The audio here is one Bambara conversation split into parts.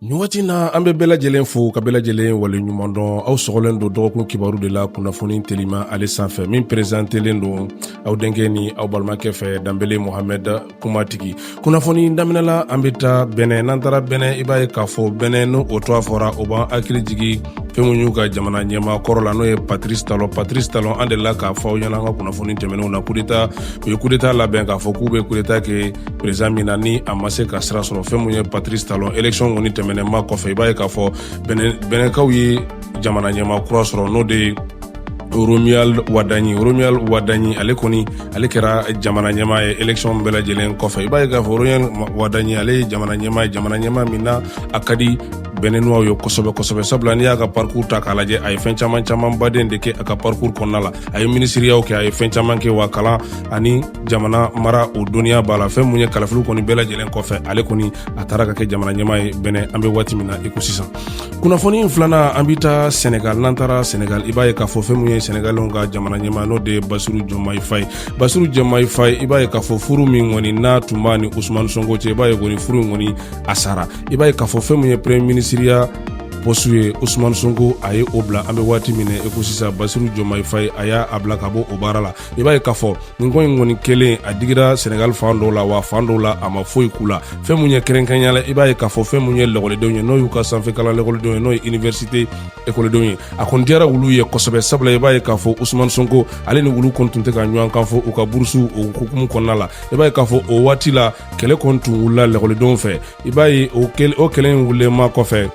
nin waati na an bɛ bɛɛ lajɛlen fo ka bɛɛ lajɛlen waleɲuman dɔn aw sɔgɔlen don dɔgɔkun kibaru de la kunnafoni telima ale sanfɛ min perezantelen don aw denkɛ ni aw balimakɛ fɛ danbele mohamɛd kumatigi kunnafoni daminɛ la an bɛ taa bɛnɛ n'an taara bɛnɛ i b'a ye k'a fɔ bɛnɛ n'o o tɔgɔ fɔra o b'an hakili jigi fɛn mun y'u ka jamana ɲɛmaa kɔrɔ la n'o ye patris talon patris talon an delila k'a fɔ aw ɲɛna an ka kunnafoni tɛmɛnenw na kudeta u ye kudeta labɛn k'a fɔ k'u bɛ kudeta kɛ perezidan min na ni a ma se ka sira sɔrɔ fɛn mun ye patrice talon élection kɔni tɛmɛnenma kɔfɛ i b'a ye k'a fɔ bɛnɛkaw ye jamana ɲɛmaa kura sɔrɔ n'o de ye romuald wadagni romuald wadagni ale kɔni ale kɛra jamana ɲɛmaa ye élection bɛɛ lajɛlen kɔfɛ i b'a ye k'a fɔ romuald wadagni ale ye jamana ɲɛmaa ye jamana ɲɛmaa min na a ka di bɛnɛnuwaw ye kosɛbɛ kosɛbɛ sabula n'i y'a ka parcours ta k'a lajɛ a ye fɛn caman caman baden de kɛ a ka parcours kɔnɔna la a ye minisiriyaw kɛ a ye fɛn caman kɛ wa kalan ani jamana mara o dɔnniya b'a la fɛn mun ye kalafili kɔni bɛɛ lajɛlen kɔfɛ ale kɔni a taara ka kɛ jamana ɲɛmaa ye bɛnɛ an bɛ waati min na i ko sisan kunnafoni filanan an bɛ taa sɛnɛgal n'an taara sɛnɛgal i b'a ye k'a fɔ fɛn mun ye sɛnɛgalɛw ka jamana ɲɛmaa n'o de ye bassirou diomaye faye bassirou diomaye faye i b'a ye k'a fɔ furu min kɔni n'a tun b'a ni usumani sonko cɛ i b'a ye kɔni furu in kɔni a sara i b'a ye k'a fɔ fɛn mun ye premier minisiriya poste ye usumani sonko a ye o bila an bɛ waati min na i ko sisan bassirou diomaye faye a y'a a bila ka bɔ o baara la i b'a ye k'a fɔ nin ko in kɔni kɛlen a digira senegal fan dɔw la wa fan dɔw la a ma foyi k'u la fɛn mun ye kɛrɛnkɛrɛnya la i b'a ye k'a fɔ fɛn mun ye lakɔlidenw ye n'o y'u ka sanfɛ kalan lakɔlidenw ye n'o ye université ekɔlidenw ye a kɔni diyara olu ye kosɛbɛ sabula i b'a ye k'a fɔ usumani sonko ale ni olu kɔni tun tɛ ka ɲɔgɔn kan fɔ u ka burusu o hukumu kɔnɔna la i b'a ye k'a fɔ o waati la kɛlɛ kɔni tun wulila lakɔlidenw fɛ i b'a ye o kɛlɛ in wulilenma kɔfɛ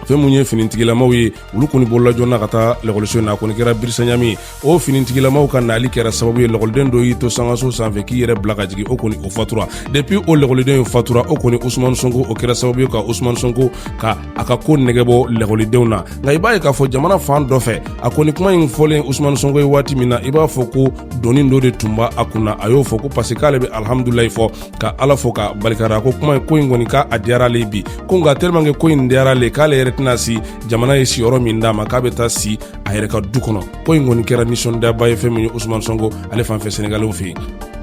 fɛn mun ye finitigilamaw ye olu kɔni bolila joona ka taa lakɔliso in na a kɔni kɛra birisaɲami ye o finitigilamaw ka nali kɛra sababu ye lakɔliden dɔ y'i to sankanso sanfɛ k'i yɛrɛ bila ka jigin o kɔni o fatura depuis o lakɔliden in fatura o kɔni usumani sonko o kɛra sababu ye ka usumani sonko ka a ka ko nege bɔ lakɔlidenw na nka i b'a ye k'a fɔ jamana fan dɔ fɛ a kɔni kuma in fɔlen usumani sonko ye waati min na i b'a fɔ ko doni dɔ de tun b'a a kunna a y'o fɔ ko parce que k'ale bɛ alihamudulilayi fɔ ka ala fo ka barika da ko kuma ko in kɔni k'a diyara ale bi ko nka tellement que ko in diyara ale k'ale yɛrɛ tɛna si jamana ye siyɔrɔ min d'a ma k'a bɛ taa si a yɛrɛ ka du kɔnɔ ko in kɔni kɛra nisɔndiyaba ye fɛn min ye usman sɔnko ale fan fɛ sɛnɛgalɛw fɛ yen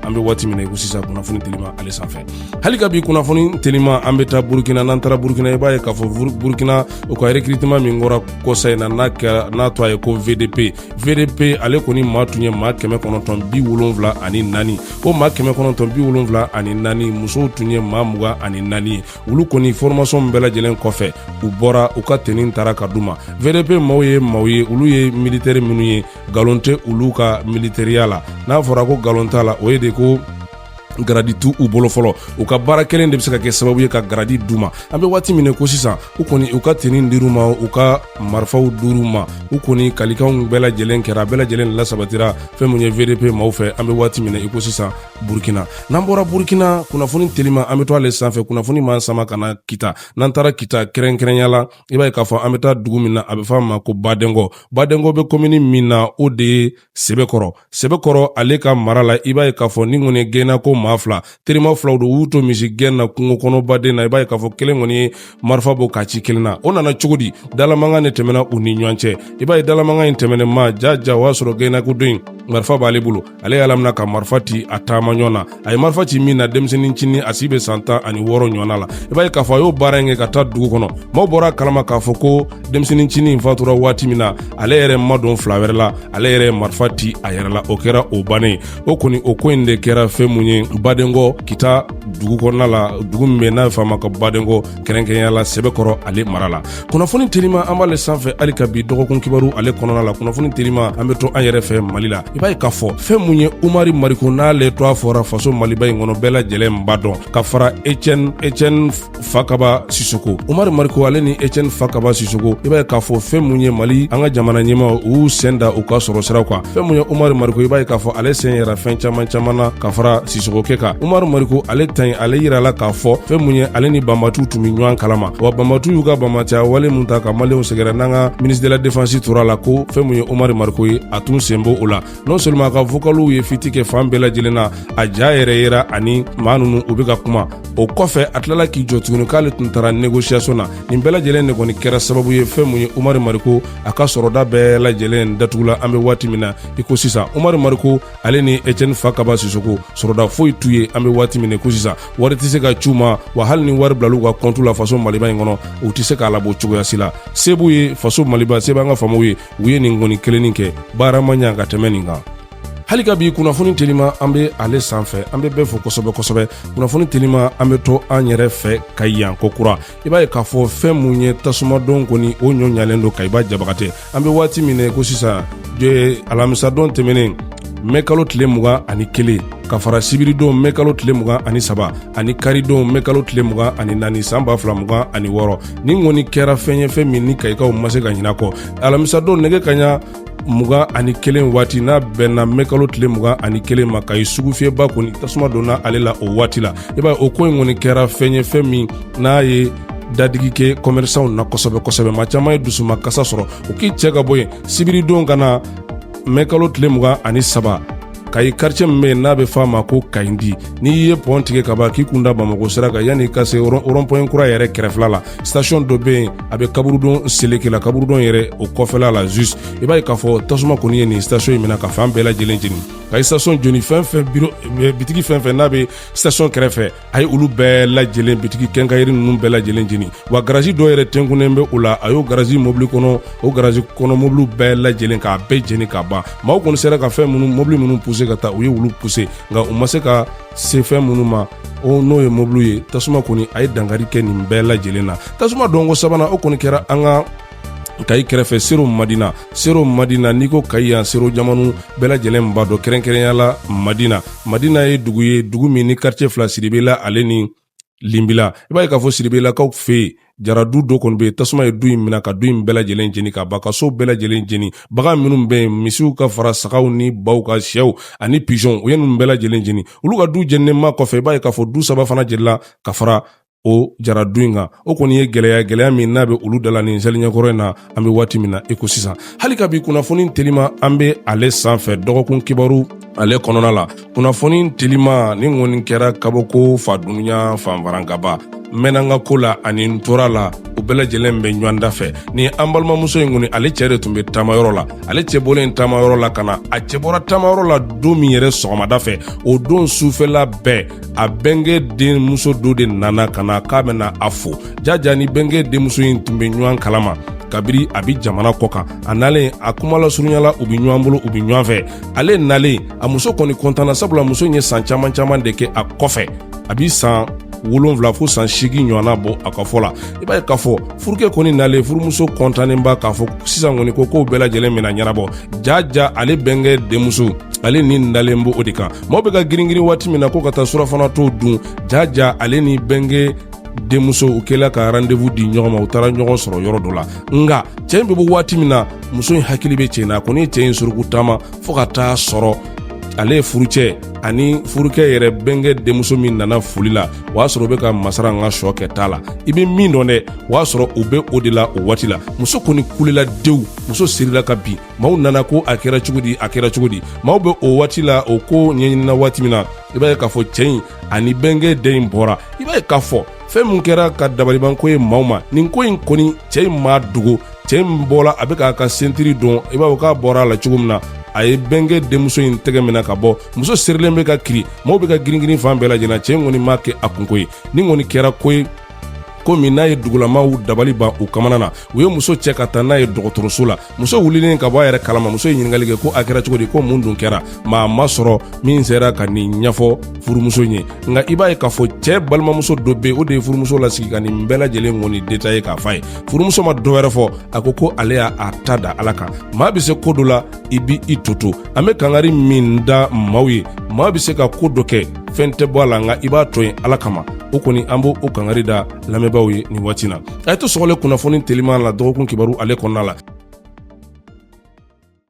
an bɛ waati min na i ko sisan kunnafoni telima ale sanfɛ hali ka bi kunnafoni telima an bɛ taa burukina n'an taara burukina i b'a ye k'a fɔ burukina u ka recrutement min kɛra kɔsa in na n'a kɛra n'a tɔgɔ ye ko vdp vdp ale kɔni maa tun ye maa kɛmɛ kɔnɔntɔn bi wolonwula ani naani ko maa kɛmɛ kɔnɔntɔn bi wolonwula ani naani musow tun ye maa mugan ani naani ye olu kɔni fɔrɔmasɔn bɛɛ lajɛlen kɔfɛ u bɔra u ka teni tara ka d'u ma vdp maw ye maw ye olu ye militɛri minnu ye galon tɛ olu ka militɛriya la n'a fɔra ko galon t'a la o ye de ko garadi t'u bolo fɔlɔ u ka baara kɛlen de bɛ se ka kɛ sababu ye ka garadi d'u ma an bɛ waati min ko sisan u kɔni u ka teni dir'u ma u ka marifaw dir'u ma u kɔni kalikanw bɛɛ lajɛlen kɛra bɛɛ lajɛlen lasabatira fɛn min ye vdp maaw fɛ an bɛ waati min i ko sisan burukina n'an bɔra burukina kunnafoni telima an bɛ to ale sanfɛ kunnafoni b'an sama ka na kita n'an taara kita kɛrɛnkɛrɛnya la i b'a ye k'a fɔ an bɛ taa dugu min na a bɛ fɔ a ma ko badenkɔ badenkɔ bɛ komini min na o de ye sɛbɛkɔrɔ sɛbɛkɔrɔ ale ka mara la i b'a ye k'a fɔ nin kɔni gɛnna ko maa fila terima filaw don u to misi gɛn na kungo kɔnɔ baden na i b'a ye k'a fɔ kelen kɔni ye marifa bɔ k'a ci kelen na o nana cogo di dalamankan de tɛmɛna u ni ɲɔgɔn cɛ i b'a ye dalamankan in tɛmɛnen ma ja ja o y'a sɔrɔ gɛnna ko dɔ in marifa b'ale bolo ale y'a lamina ka marifa ti a taamaɲɔgɔn na a ye marifa ci min na denmisɛnnin ncinin a si bɛ san tan ani wɔɔrɔ ɲɔgɔnna la i b'a ye k'a fɔ a y'o baara in kɛ ka taa dugu kɔnɔ maaw bɔr'a kalama k'a fɔ ko denmisɛnnin ncinin in fatura waati min na ale yɛrɛ ma don fila wɛrɛ la ale yɛrɛ marifa ti a yɛrɛ la o kɛra o bannen ye o kɔni o ko in de kɛra fɛn mun ye badenkɔ kita dugu kɔnɔna la dugu min bɛ n'a bɛ f'a ma ko badenkɔ kɛrɛnkɛrɛnya la sɛbɛkɔrɔ ale mara la kunnafoni telima an b'ale sanfɛ hali ka bi dɔgɔkun kibaru ale kɔnɔna la kunnafoni telima an be to an yɛrɛ fɛ mali la i b'a ye k'a fɔ fɛn mun ye umari mariko n'ale tɔgɔ fɔra faso maliba in kɔnɔ bɛɛ lajɛlen b'a dɔn ka fara etiɛni etiɛni fakaba sisoko umari mariko ale ni etiɛni fakaba sisoko i b'a ye k'a fɔ fɛn mun ye mali an ka jamana ɲɛmaaw y'u sen da u ka sɔrɔ siraw kan fɛn mun ye umari mariko i b'a ye k'a fɔ ale sen yera fɛn caman caman na ka fara sisoko kɛ kan umaru mariko ale ta in ale yirala k'a fɔ fɛn mun ye ale ni banbaanciw tun be ɲɔgɔn kalama wa banbaanciw y'u ka banbaanciya wale min ta ka maliyɛnw sɛgɛrɛ n'an ka ministre de la defansi tor'a la ko fɛn mun ye umaru mariko ye a tun sen b'o la non seulement a ka vokaliw ye fiti kɛ fan bɛɛ lajɛlen na a ja yɛrɛ yera ani maa nunu u be ka kuma o kɔfɛ a tilala k'i jɔ tuguni k'ale tun taara negosiyasɔn na nin bɛɛ lajɛlen de kɔni kɛra sababu ye fɛn mun ye umaru mariko a ka sɔrɔda bɛɛ lajɛlen datugula an be waati min na i ko sisan umaru mariko ale ni etiɛni fakaba sisoko sɔrɔda foyi t'u ye an be waati min na i ko sisan wari tɛ se ka c'u ma wa hali ni wari bilal'u ka kɔntu la faso maliba in kɔnɔ u tɛ se k'a labɔ cogoya si la se b'u ye faso maliba se b'an ka faamaw ye u ye nin kɔni kelennin kɛ baara ma ɲa ka tɛmɛ nin kan hali ka bi kunnafoni telima an be ale sanfɛ an be bɛɛ fo kosɛbɛ kosɛbɛ kunnafoni telima an be to an yɛrɛ fɛ kayi yan ko kura i b'a ye k'a fɔ fɛɛn mun ye tasumadon kɔni o ɲɔ ɲalen don kayi ba jabagatɛ an bɛ waati min na ko sisan alamisadon tɛmɛnen mɛ kalo tile mugan ani kelen ka fara sibiridon mɛ kalo tile mugan ani saba ani karidon mɛ kalo tile mugan ani naani san ba fila mugan ani wɔɔrɔ nin kɔni kɛra fɛn ye fɛn min ni kayikaw ma se ka ɲina kɔ alamisadon nɛgɛ kanɲɛ mugan ani kelen waati n'a bɛnna mɛ kalo tile mugan ani kelen ma kayi sugu fiyɛba kɔni tasuma donna ale la o waati la i b'a ye o ko in kɔni kɛra fɛn ye fɛn min n'a ye dadigi kɛ kɔmɛrisanw na kosɛbɛ kosɛbɛ maa caman ye dusuma kasa sɔrɔ u k'i cɛ ka bɔ yen sibiridon ka na mɛkalo tile mugan ani saba kayi karicɛ min bɛ yen n'a bɛ f'a ma ko kayindi n'i ye pɔn tigɛ ka ban k'i kun da bamako sira kan yann'i ka se rɔnpuwɛn kura yɛrɛ kɛrɛfɛla la sitasiɔn dɔ bɛ yen a bɛ kaburudon seleke la kaburudon yɛrɛ o kɔfɛla la jus i b'a ye k'a fɔ tasuma kɔni ye nin sitasiɔn in mina ka fan bɛɛ lajɛlen jeni ka sitasiɔn jeni fɛn fɛn bitigi fɛn fɛn n'a bɛ sitasiɔn kɛrɛfɛ a ye olu bɛɛ lajɛlen bitigi kɛnkayiri ninnu bɛɛ lajɛlen jeni wa garazi dɔ yɛrɛ tenkunnen bɛ o la a y'o garazi mobili kɔnɔ o garazi kɔnɔ mobiliw bɛɛ lajɛlen k'a bɛɛ jeni ka ban maaw kɔni sera ka fɛn minnu mobili minnu puse ka taa u ye olu puse nka u ma se ka se fɛn minnu ma n'o ye mobiliw ye tasuma kɔni a ye dankari kɛ nin bɛɛ lajɛlen na tasuma donko sabanan o kɔni kɛra an ka kayi kɛrɛfɛ sero madina sero madina n'i ko kayi yan sero jamanu bɛɛ lajɛlen b'a dɔn kɛrɛnkɛrɛnya la madina madina ye dugu ye dugu min ni karicɛ fila siribela ale ni linbila i b'a ye k'a fɔ siribelakaw fɛ yen jara du dɔ kɔni bɛ yen tasuma ye du in minɛ ka du in bɛɛ lajɛlen jeni ka ban ka so bɛɛ lajɛlen jeni bagan minnu bɛ yen misiw ka fara sagaw ni baw ka sɛw ani pizɔn u ye ninnu bɛɛ lajɛlen jeni olu ka du jeninen ma kɔfɛ i b'a ye k'a fɔ du saba fana jenina ka fara o jara du in kan o kɔni ye gɛlɛya gɛlɛya min n'a bɛ olu dala nin seliɲɛkɔrɔ in na an bɛ waati min na i ko sisan hali ka bi kunnafoni telima an bɛ ale sanfɛ dɔgɔkun kibaru ale kɔnɔna la kunnafoni telima nin kɔni kɛra kabako fa dunuya fanfarankaba mɛnna n ka ko la ani n tora la u bɛɛ lajɛlen bɛ ɲɔgɔn da fɛ ni an balimamuso in kɔni ale cɛ de tun bɛ taamayɔrɔ la ale cɛ bɔlen taamayɔrɔ la ka na a cɛ bɔra taamayɔrɔ la don min yɛrɛ sɔgɔmada fɛ o don sufɛla bɛɛ a bɛnkɛ denmuso dɔ de nana ka na k'a bɛna a fo jaja ni bɛnkɛ denmuso in tun bɛ ɲɔgɔn kalama kabiri a bi jamana kɔ kan a nalen a kuma lasurunyala u bi ɲɔgɔn bolo u bi ɲɔgɔn fɛ ale nalen a muso kɔni kɔntanna sabula muso ye san caman caman de kɛ a kɔfɛ a bi san wolonfila fo san seegin ɲɔgɔnna bɔ a ka fɔ la i b'a ye k'a fɔ furukɛ kɔni nalen furumuso kɔntannenba k'a fɔ sisan kɔni ko kow bɛɛ lajɛlen mina ɲɛnabɔ jaja ale bɛnkɛ denmuso ale ni nalen bɛ o de kan maaw bɛ ka giringirin waati min na ko ka taa surafana to dun jaja ale ni bɛnkɛ denmuso u kɛla ka rendez-vous di ɲɔgɔn ma u taara ɲɔgɔn sɔrɔ yɔrɔ dɔ la nka cɛɛ in bɛ bɔ waati min na muso in hakili bɛ cɛɛ na a kɔni ye cɛɛ in suruku taama fɔɔ ka taa sɔrɔ ale ye furucɛ ani furucɛ yɛrɛ bɛnkɛ denmuso min nana foli la o y'a sɔrɔ u be ka masara n ka sɔ kɛ t'a la i be min dɔn dɛ o y'a sɔrɔ u be o de la o waati la muso kɔni kulela dewu muso sirila ka bin maaw nana ko a kɛra cogo di a kɛra cogo di maaw bɛ o waati la o ko ɲɛɲinina waati min na i b'a ye k'a fɔ cɛɛ in ani bɛnkɛ den in bɔra i b'a ye k'a fɔ fɛɛn min kɛra ka dabalibanko ye maaw ma nin ko in kɔni cɛɛ in m'a dogo cɛɛ in bɔla a be k'a ka sentiri don i b'a fɔ k'a bɔra a la cogo min na a ye bɛnkɛ denmuso in tɛgɛ mina ka bɔ muso serilen be ka kirin maaw be ka giringirin fan bɛɛ lajɛna cɛɛ in kɔni m'a kɛ a kunko ye nin kɔni kɛra ko ye ko min n'a ye dugulamaw dabali ban u kamanaganna u ye muso cɛ ka taa n'a ye dɔgɔtɔrɔso la muso wulilen ka bɔ a yɛrɛ kalama muso ye ɲininkali kɛ ko a kɛra cogo di ko mun dun kɛra maa ma sɔrɔ min sera ka nin ɲɛfɔ furumuso ye nka i b'a ye k'a fɔ cɛɛ balimamuso dɔ be o de ye furumuso lasigi ka nin bɛɛ lajɛlen kɔni détaillé k'a f'a ye furumuso ma dɔ wɛrɛ fɔ a ko ko ale y'a ta da ala kan maa be se koo do la i b'i tɔ to an be kangari min da maaw ye maa be se ka koo dɔ kɛ fɛɛn tɛ bɔ a la nka i b'a to yen ala kama o kɔni an b'o o kangari da lamɛnbaaw ye nin waati na a ye to sɔgɔlen kunnafoni teliman la dɔgɔkun kibaru ale kɔnɔna la